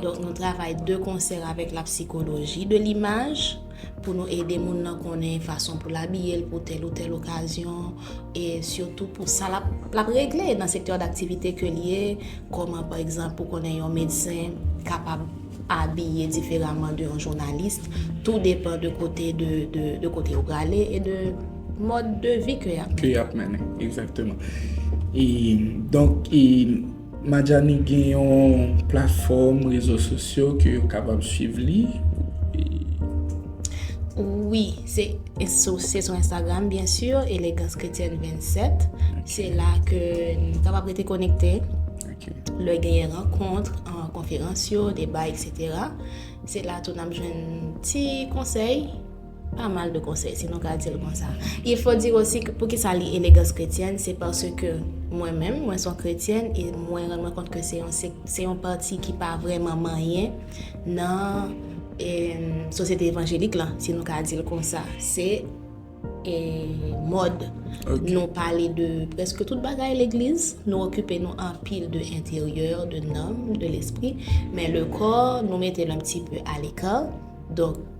Donk nou travay de konsè avèk la psikoloji de limaj pou nou ede moun nan konnen fason pou l abiye l pou tèl ou tèl okazyon e sitou pou sa l ap regle nan sektè daktivite ke l ye, kòman pa egzanp pou konnen yon medsen kapab abiye diferaman de yon jounalis, tou depan de kote de kote yo prale e de mòd de vi ke y ap mennen. Ke y ap mennen, egzakteman. E donk e. Madjani gen yon platfòm rezo sosyo ke yo kapab swiv li? Wi, se sou Instagram byen sur, Elegans Kretyèn 27, se la ke nou kapab rete konekte, lè genyen rankont, konferans yo, deba etc. Se la tou nap jwenn ti konsèy. Pa mal de konsèy si nou ka di l konsa. Il faut dire aussi que poukisa li elegans kretyèn se parce que mwen menm mwen son kretyèn e mwen rann mwen kont ke se yon se yon pati ki pa vrèman manyen nan e sosyete evanjelik lan si nou ka di l konsa se e mòd nou pale de prèske tout bagay legliz nou okipe nou anpil de enteryè de nanm de lespri men le kò nou mete l un pti peu a l'ecart donk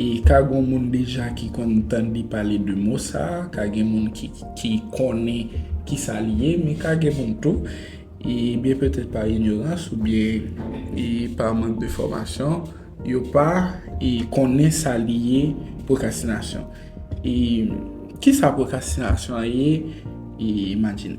E ka gon moun deja ki konn tande pale de mo sa, ka gen moun ki konnen ki sa li ye, men ka gen moun tou, e byen petèt pa inyorans ou byen e pa mank de fòmasyon, yo pa e konnen sa li ye pwokrastinasyon. E ki sa pwokrastinasyon an ye e Madjine?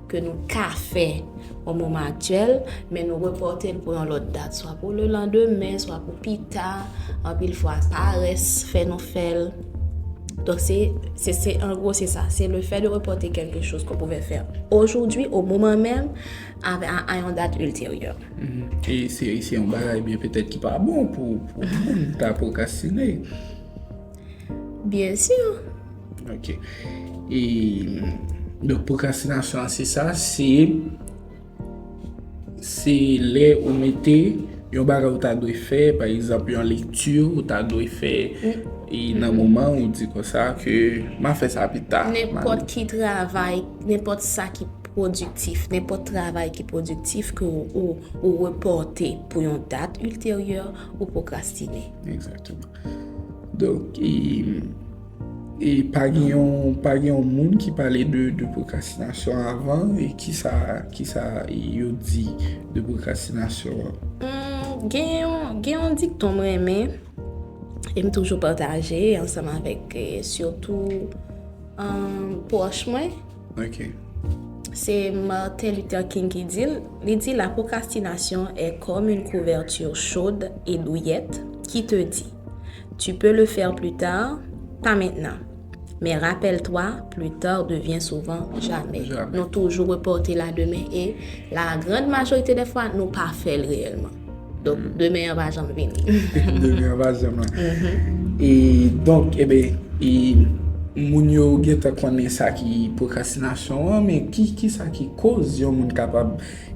ke nou ka fè o moman aktyèl, men nou repòte l pou yon lòt dat, swa pou le landemen, swa pou pi ta, anpil fwa parès fè nou fè l. Donk se, se, se, an gwo se sa, se le fè de repòte kèlke chòz ke w pouvè fè ojoudwi, o moman menm, a, a yon dat ilteryè. E se, se yon bagay byen petèt ki pa bon pou, pou moun ta pwokrastine. Byensi! Ok. E, donk pwokrastinasyon an se sa, se, se lè ou mete yon bagay ou ta dwe fè, pa egzanp yon lekti ou ta dwe fè, e nan moman ou di kon sa ke m a fè sa pi ta. Nenpòt ki travay, nenpòt sa ki pwodiktif, nenpòt travay ki pwodiktif ke ou repòte pou yon dat ilteryè, ou pwokrastine. Egzakteman. Donk, e. E pa gen yon, pa gen yon moun ki pale de pwokrastinasyon avan e ki sa, ki sa yo di de pwokrastinasyon an? Humm, gen yon, gen yon dikton m renmen e m toujou pataje ansanm avèk sitou pwòch mwen. Ok. Se Martin Luther King ki di l, li di, La procrastination est comme une couverture chaude et douillette qui te dit, Tu peux le faire plus tard, pas maintenant. Men rappelle toi, plus tard devient souvent jamais. Nou toujou reporte la demen e la grand majorite de fwa nou pa fè l reyèlman. Donk, mm-hmm. demen an va janm vini. demen an va janm vini. Mm-hmm. E donk, ebe, eh e moun yo gen ta konnen sa ki prokrastinasyon an, men ki sa ki koz yon moun kapab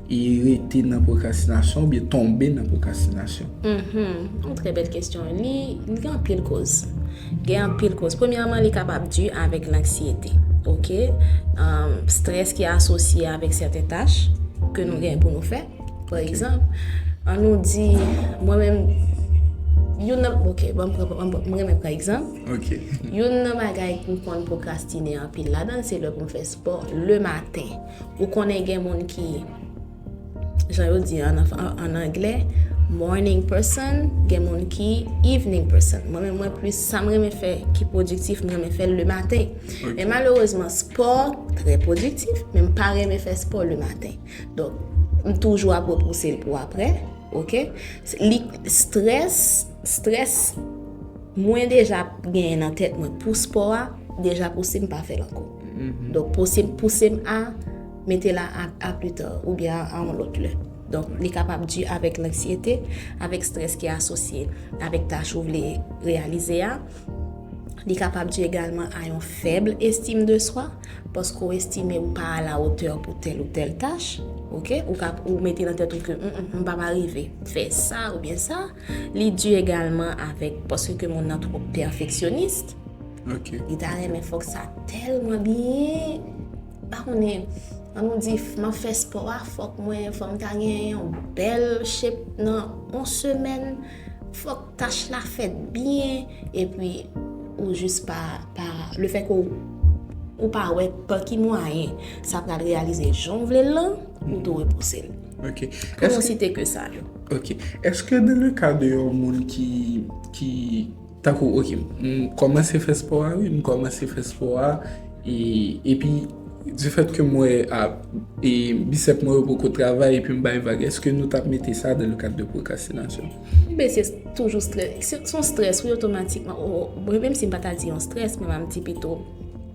E rete nan pwokrastinasyon oubyen tonbe nan pwokrastinasyon? Yon trè bèl kesyon. Li gen anpil koz. Gen anpil koz. Premyèman, li kapab di avèk lanksyete. Ok? Strès ki asosye avèk sèten tach ke nou gen pou nou fè. Pa egzanp, an nou di, mwen menm, youn nan, ok, banm pran, m renmen pran egzanp. Ok. Youn nan bagay m konn pwokrastine anpil ladan l se lè pou m fè spò le maten. Ou konnen gen moun ki, jan yo di an anglè, morning person, gen moun ki evening person. Mwen men mwen plis, sa mwen men fè ki pwodiktif, mwen men fè le maten. Men malerezman, spò, trè pwodiktif, men mwen pa remen fè spò le maten. Don, m toujou ap repouse l pou apre, ok? Li stress, stress. Mwen deja genyen nan tèt mwen pou spò a, deja pouse m pa fè l ankò. Donk pouse pouse m a mete la a a plus tard oubyen a a yon lòt lè. Donk li kapab di avèk lanksyete, avèk strès ki asosye avèk tach ou vle reyalize a. Li kapab di egalman a yon fèb estim de swa, paske ou estime ou pa a la otè pou tèl ou tèl tach. Ok, ou ka ou mete nan tèt ou ke m m pa va rive fè sa oubyen sa. Li di egalman avèk paske ke moun nan twò pèfeksyonis. Ok. Li ta renmen fòk sa tèlman byen, pa konnen, an nou di m ap fè spò a fòk mwen, fòk m ta gen yon bèl chep nan yon semèn, fòk tach la fèt byen, epi ou jis pa, pa, le fè ke ou pa wè pa ki mwayen sa pral reyalize jan w vle l lan, ou tou repouse l. Ok. Pou nou site ke sa yo. Ok. Eske nan le ka de yon moun ki, ki, tankou ok, m kòmanse fè spò a wi, m kòmanse fè spò a, e, epi, di fèt ke m wè a, e, bisèp mwen yo poko travay epi m bay vag, eske nou tap mete sa nan le kad de pwokrastinasyon? Enben se toujou strès, son strès wi otomatikman, mwen menm si m pa ta di yon strès, mwen m ap di pito.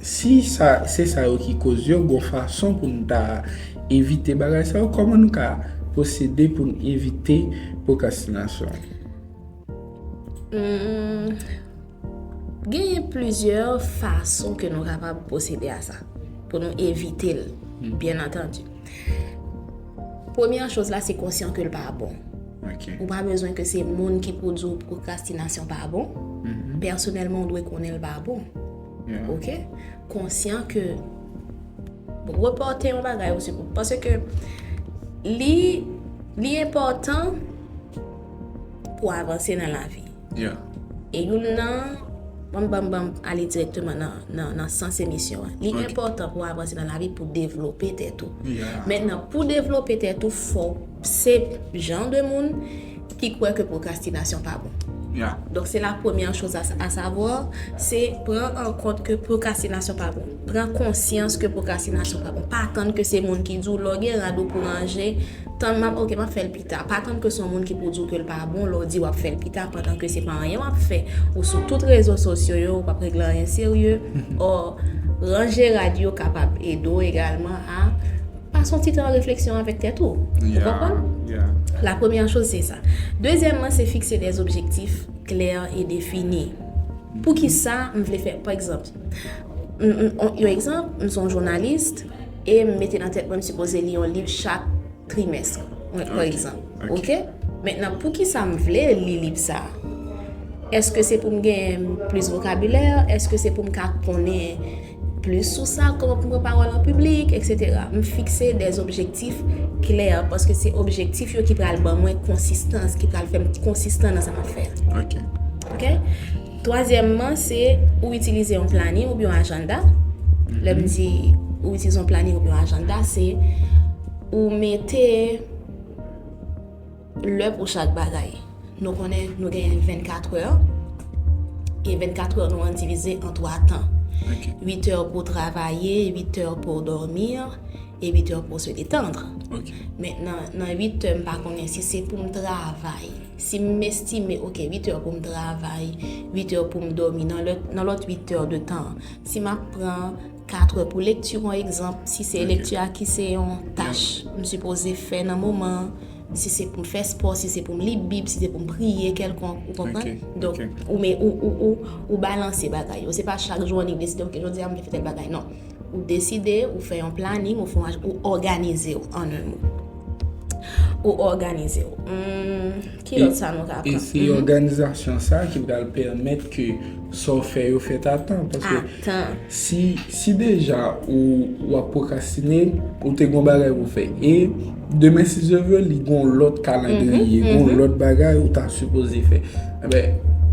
Si sa se sa yo ki koz yo, gon fason pou n ta evite bagay sa yo, kòman nou ka pwosede pou n evite pwokrastinasyon? Genyen plizyè fason ke nou kapab pwosede a sa, pou nou evite l, byen antandi. Premye choz la se konsyan ke l pa bon. Ou pa bezwen ke se moun ki pou di w pwokrastinasyon pa bon, pèsonèlman ou dwe konnen l pa bon. Ok konsyan ke reporte yon bagay ou se pou pase ke li li enpòtan pou avanse nan la vi. Ya. E yon nan banm banm banm ale direkteman nan nan nan sans emisyon an. Li enpòtan pou avanse nan la vi pou devlope tèt ou. Ya. Mètnan pou devlope tèt ou fòk. Se jan de moun ki kwè ke pwokrastinasyon pa bon. Donk se la premyè choz a savwa, se pran an kont ke pwokrastinasyon pa bon. Pran konsyans ke pwokrastinasyon pa bon. Pa tann ke se moun ki di w lè w gen rad ou pou ranje, tann m ap ok m ap fè l pita. Pa tann ke se yon moun ki pou di w ke l pa bon lè w di w ap fè l pita pandan ke se pa anyen w ap fè. Ou sou tout rezo sosyo yo, ou p ap regle anyen serye. Ò, ranje rad yo kapab ede w egalman a. Pas yon ti tan refleksyon avèk tèt ou. Ou konprann? La premyè choz se sa. Dezyèmman se fikse dè objektif klè e defini. Pou ki sa m vle fè? Pa egzanp, yon egzanp, m son jounalis e m mete nan tèt mwen m sipoze li yon liv chak trimès. Mwen pran egzanp. Ok? Mentnan, pou ki sa m vle li liv sa? Eske se pou m gen plis vokabilè? Eske se pou m ka konnen? Plis sou sa, kòman pou m pran pawòl an piblik, eksetera. M fikse de objektif klè, paske se objektif yo ki pral ban mwen konsistans, ki pral fè m konsistan nan sa m ap fè a. Ok. Twazyèmman, se ou itilize yon planin oubyen yon ajanda. Lè m di ou itilize yon planin oubyen yon ajanda, se ou mete. Lè pou chak bagay. Nou konnen nou genyen 24 è, e 24 è nou an divize an 3 tan. 8 è pou travaye, 8 è pou dòmi, e 8 è pou se detandre. Men nan 8 è m pa konnen si se pou m travay. Si m estime ok 8 è pou m travay, 8 è pou m dòmi, nan lòt 8 è de tan, si m ap pran. 4 è pou lekti on egzanp, si se lekti a ki se on tach m sipoze fè nan moman an, si se pou m fè spò, si se pou m li bib, si se pou m priye kèlkonk, ou konprann? Donk, ou me, ou, ou, ou, ou balanse bagay yo. Se pa chak jou annik deside ok jodi a m vle fè tèl bagay, non. Ou deside, ou fè yon planing, ou fè yon aj, ou òganize w an un mot. Ou òganize w. Humm. Ki lòt sa nou ka aprann? E se òganizasyon sa ki pral pèmèt ke sa w fè yo fèt a tan. A tan. Si deja ou ap pwokrastine, ou te gen yon bagay pou w fè. E demen si Dye vle, li gen yon lòt kalandriye, gen yon lòt bagay ou ta sipoze fè.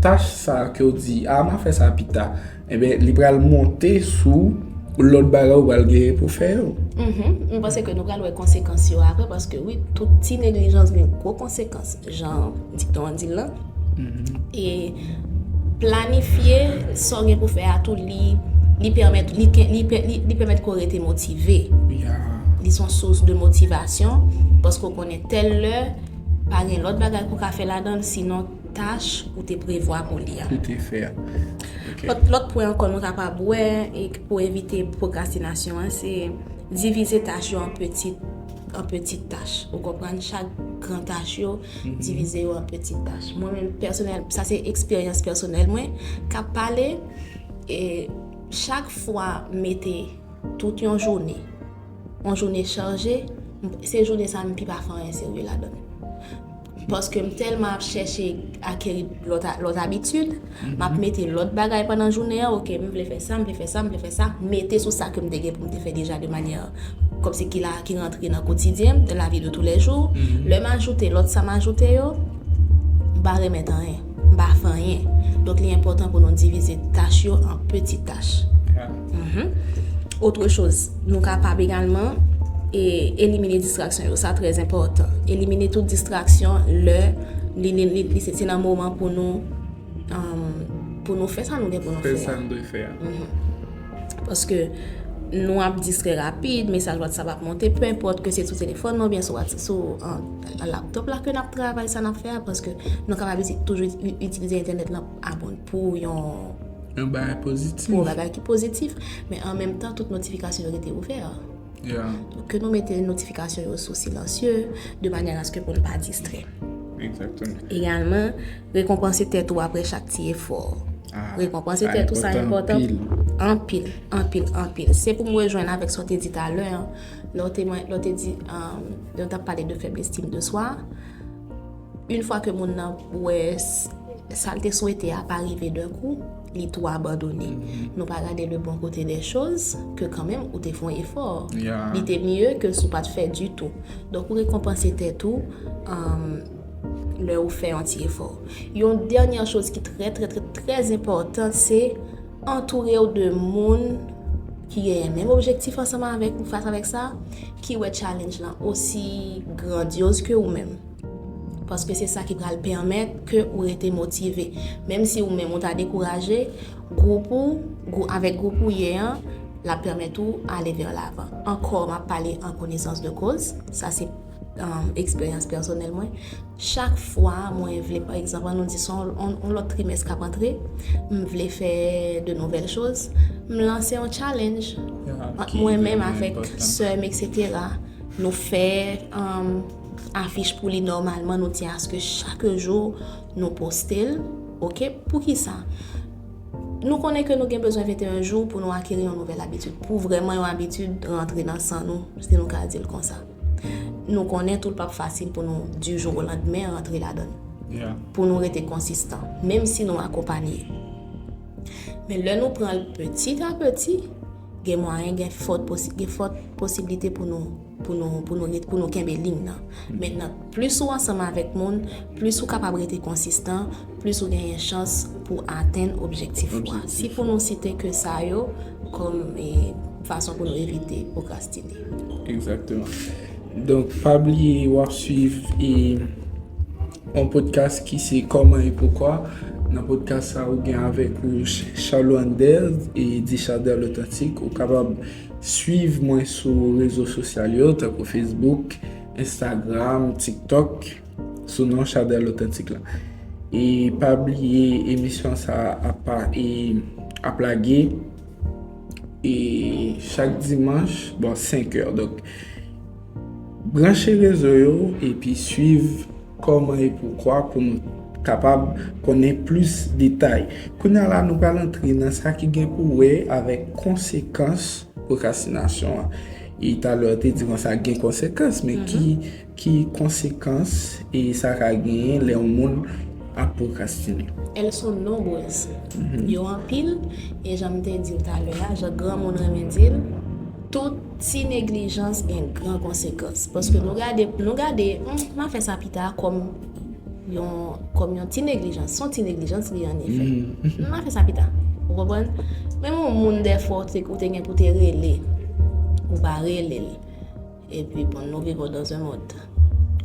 Tach sa ke w di, a m a fè sa pita. Enben, li pral monte sou lòt bagay ou pral genyen pou fè yo. Mwen panse ke nou pral wè konsekans yo apre, paske wi, tout ti neglijans gen gwo konsekans, jan dikton an di l lan. E planifye sa w gen pou fè a tou, li pèmèt ke w rete motive. Li son sous de motivasyon, paske w konnen tèl lè, pa gen lòt bagay pou w ka fè ladan l, sinon. tach ou te prevwa pou li a. Pou te fè a. Ok. Lòt pwen ankò nou kapab wè e pou evite pwokrastinasyon an se divize tach yo an peti an peti tach. Ou konprann? Chak gran tach yo, divize yo an peti tach. Mwen menm pèsonèl, sa se eksperyans pèsonèl mwen k ap pale e chak fwa m mete tout yon jounen, yon jounen chaje, se jounen sa a m pi pa fè anyen serye ladan l. Paske m tèlman ap chèche akeri lòt abitid, m ap mete lòt bagay pandan jounen an, ok, m vle fè sa, m vle fè sa, m vle fè sa, mete sou sa ke m te gen pou m te fè deja de manyè kòmsi ki la, ki rantre nan kotidyen m, nan lavi de tou lè jou. Lè m ajoute lòt sa m ajoute yo, m pa remèt anyen. Ba fanyen. Donk li enpòtan pou nou divize tach yo an peti tach. Otre choz, nou kapab egalman elimine distraksyon yo. Sa trè enpòtan. Elimine tout distraksyon lè li se nan moman pou nou pou nou fè sa nou gen pou nou fè. Fè sa nou dwe fè. Paske nou ap distrè rapid, mesaj WhatsApp ap monte, pènpòt ke se sou telefòn nou oubyen sou nan laptop la ke nap travay sa nap fè a paske nou kapab toujou itilize entènèt lan pou yon yon bagay pozitif pou yon bagay ki pozitif men an menm tan tout notifikasyon yo rete ouvè ke nou mete notifikasyon yo sou silansye de manyè aske pou nou pa distrè egalman rekonpanse tèt ou apre chak ti efò rekonpanse tèt ou sa enpotan anpil, anpil, anpil se pou mwen jwenn avèk sa ou te di talè an Lè w te mwen, lè w te di, lè w tap pale de fèb estime de swa, yn fwa ke moun nan wè sa l te swete a pa rive dè kou, li tou abandone. Nou pa gade le bon kote de choz, ke kanmenm ou te fon efò. Li te mye ke si w pat fè ditou. Donk ou rekonpanse tèt ou, lè ou fè yon ti efò. Yon dènyè choz ki trè trè trè trè enpòtan se, Antoure w de moun ki genyen menm objektif ansanm avèk ou fas avèk sa, ki wè challenge lan osi grandyoz ke ou menm. Paske se sa ki pral pèmèt ke ou rete motive. Menm si ou menm ou ta dekouraje, gwoup ou, avèk gwoup ou ye an, l ap pèmèt ou ale vè lavan. Ankò, m ap pale an konesans de koz, sa se eksperyans pèsonèl mwen. Chak fwa mwen vle, pa egzanp, an nou di son yon lòt trimès k ap antre, m vle fè de nouvèl choz, m lanse yon challenge ant mwen menm avèk sè m eksetera, nou fè afich pou li nòmalman, nou di aske chak jou nou poste l, ok, poukisa? Nou konnen ke nou gen bezwen 21 jou pou nou akeri yon nouvèl abitid, pou vrèman yon abitid rantre nan san nou, si nou ka di l konsa. Nou konnen tou l pap fasil pou nou di jou o landmen rantre ladan l. Pou nou rete konsistan, menm si nou akonpanye. Men lè nou pran l peti a peti, gen mwayen gen fòt posiblite pou nou pou nou pou nou pou nou kenbe liy nan. Mennan, plis ou ansanm avèk moun, plis ou kapab rete konsistan, plis ou genyen chans pou atenn objektif ou a. Si pou nou site ke sa yo kòm fason pou nou evite pwokrastine. Egzakteman. Donk, pa bliye w ap suiv yon podkas ki se Kòman e Poukwa. Nan podkas sa ou gen avèk ou Charlot Ander e The Charder L'Authentique. Ou kapab suiv mwen sou rezo sosyal yo tankou Facebook, Instagram, TikTok. Sou non Chadel Authentique la. E pa bliye emisyon sa apa e ap lage e chak dimanch bon 5 èr. Donk branche rezo yo epi swiv kòman e poukwa pou nou kapab konnen plis detay. Kounya la nou pral antre nan sa ki gen pou wè avèk konsekans pwokrastinasyon an. E talè ou te di konsa gen konsekans men ki Ki konsekans sa ka genyen lè yon moun ap pwokrastine? Elles sont nombreuses. Yo anpil, e jan m te di w talè a, jan granmoun renmen di l, tout ti neglijans gen gran konsekans. Paske nou gade, nou gade, m a fè sa pita kòm yon, kòm yon ti neglijans. S on ti neglijans li ye an efè. M a fè sa pita. Ou konprann? Menm yon moun dèfwa ou te gen pou te rele, ou pa rele l. E pi bon nou viv dans un monde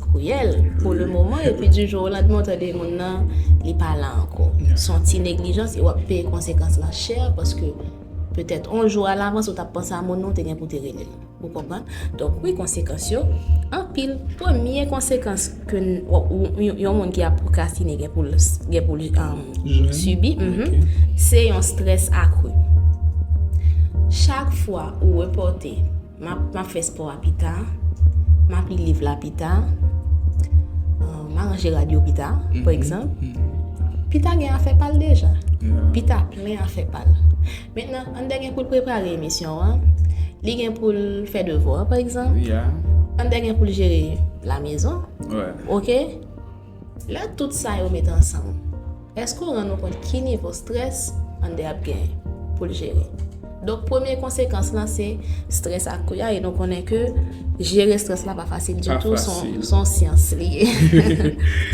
cruel pou le moman e pi di jou la dman ou tande moun nan li pa la anko. Son ti neglijans e wap peye konsekans lan chè paske petèt on jou a lavans ou tap panse a moun nou te gen pou te rele l. Ou konprann? Donk wi konsekans yo anpil. Premye konsekans ke yon moun ki ap pwokrastine gen pou l gen pou l sibi se yon strès akru. Chak fwa ou repòte M ap fè spò a pita. M ap li liv la pita. M a ranje rad yo pita, pa egzanp. Pita gen afè pal deja. Pita plen afè pal. Mètnen, an dè gen pou l prepare emisyon an. Li gen pou l fè devwa, pa egzanp. An dè gen pou l jere la mezon. Ok? Lè tout sa yo mete ansanm, èske w rann ou kont ki nivo strès Ander ap genyen pou l jere? Donk premye konsekans lan se strès ak kou a e nou konnen ke jere strès la pa fasil ditou, s on syans li ye.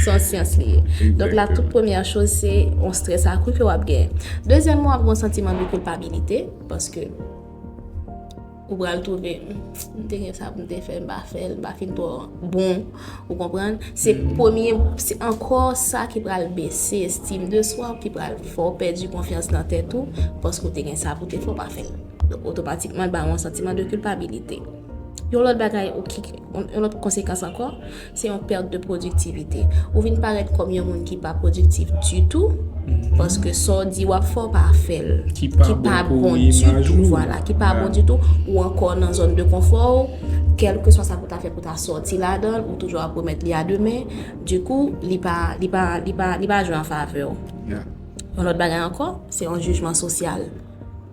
S on syans li ye. Donk la tout premyè choz se yon strès ak kou ke w ap genyen. Dezyèmman w ap gen yon santiman de kilpabilite paske. Ou pral twouve, m te gen sa pou m te fè, m pa fè l, m pa fin twò bon, ou konprann? Se premye, se ankò sa ki pral bese estim de swa ou, ki pral fè w pèdi konfyans nan tèt ou, paske ou te gen sa pou w te fè, ou pa fè l. Donk, otomatikman, l ba ou yon santiman de kilpabilite. Yon lòt bagay, yon lòt konsekans ankò, Se yon perte de productivité. Ou vin parèt kòm yon moun ki pa productif ditou, paske sa w di w ap fè w pa fè l. Ki pa bon pou imaj ou. Ki pa bon ditou, vwala. Ki pa bon ditou. Ou ankò nan zòn de konfò w. Kèlkeswa sa pou ta fè pou ta sòti ladan l, ou toujou ap remèt li a demen. Dikou, li pa, li pa, li pa, li pa jwe an favè w. Yon lòt bagay ankò, se yon jijman sosyal.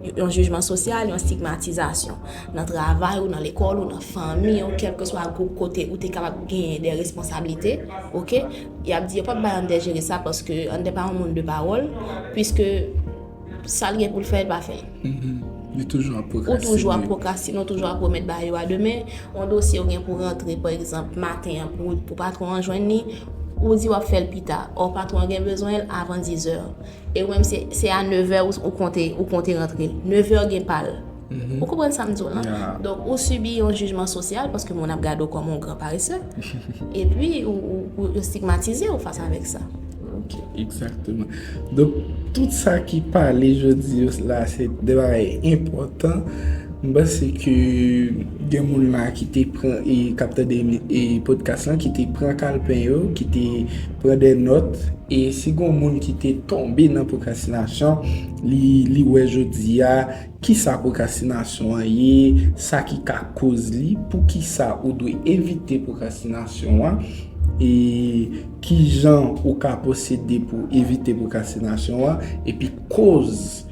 Yon jijman sosyal, yon stigmatizasyon. Nan travay ou, nan lekòl ou, nan fanmi ou, kèlke swa gwoup kote ou te kapab genyen de responsablite, ok, y ap di yo pa p bay Ander jere sa paske Ander pa yon moun de pawòl, piske sa l gen pou l fè, l pa fè. Li toujou ap pwokrastine. Ou toujou ap pwokrastine, ou toujou ap remèt ba yo a demen. Yon dosye ou gen pou rantre, pa egzanp, maten an pou patwon an jwenn li, ou di w ap fè l pita. Ò patwon an gen bezwen l avan dizè. E wèm se se a 9 è ou konte ou konte rantre. 9 è gen pa l. Ou konprann sa m di w lan? Ya. Donk ou sibi yon jijman sosyal paske moun ap gade w kòm yon gran parese. Epi ou ou ou yo stigmatize w fas avèk sa. Ok, egzakteman. Donk tout sa ki pale jodi yo la se de bagay enpòtan. M panse ke gen moun la ki te pran e k ap tande e podcast lan ki te pran kalpen yo, ki te Pran de nòt, e si gon moun ki te tonbe nan pwokrastinasyon, li li wè jodi a kisa pwokrastinasyon an ye, sa ki ka koz li, poukisa ou dwe evite pwokrastinasyon an, e kijan ou ka pwosede pou evite pwokrastinasyon an, epi koz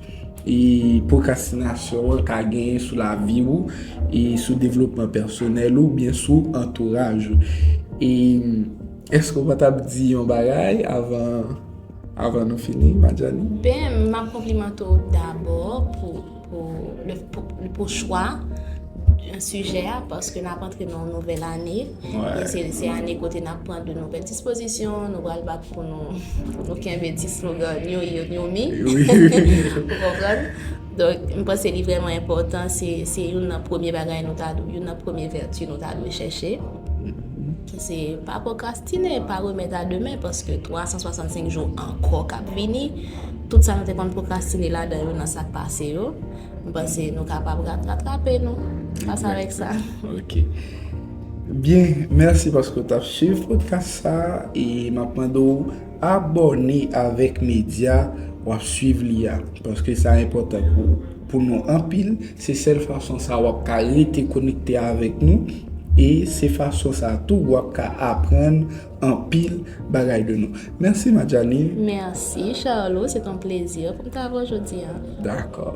e pwokrastinasyon an ka genyen sou lavi ou, e sou devlopman pèsonèl ou, oubyen sou antouraj ou. E. Eske ou pa tap di yon bagay avan nou fini Madjani? Ben, m ap konplimante w dabò pou chwa sijè a paske n ap antre nan yon nouvèl ane e se ane kote n ap pran de nouvèl dispozisyon, nou pral bat pou nou kenbe ti slogan New Year, New Me. Ou konprann? Donk, m panse li vrèman enpòtan, se youn nan premye bagay nou ta dwe, youn nan premye vèti nou ta dwe chèche. ki se pa pwokrastine, pa remèt a demen paske 365 jou ankò kap vini, tout sa nou te konn pwokrastine ladan yo nan sak pase yo, m panse nou kapab ratrape nou fas avèk sa. Ok. Byen, mèsi paske w tap swiv pwodkas sa e map mande w abòne avèk medya wap swiv li a paske sa enpòtan pou ou. pou nou anpil, se sèl fason sa wap ka rete konekte avèk nou e se fason sa tou wap ka aprann anpil bagay de nou. Mèsi Madjani. Mèsi Charlot, se ton plezi pou m ta avè w jodi a. Dakò.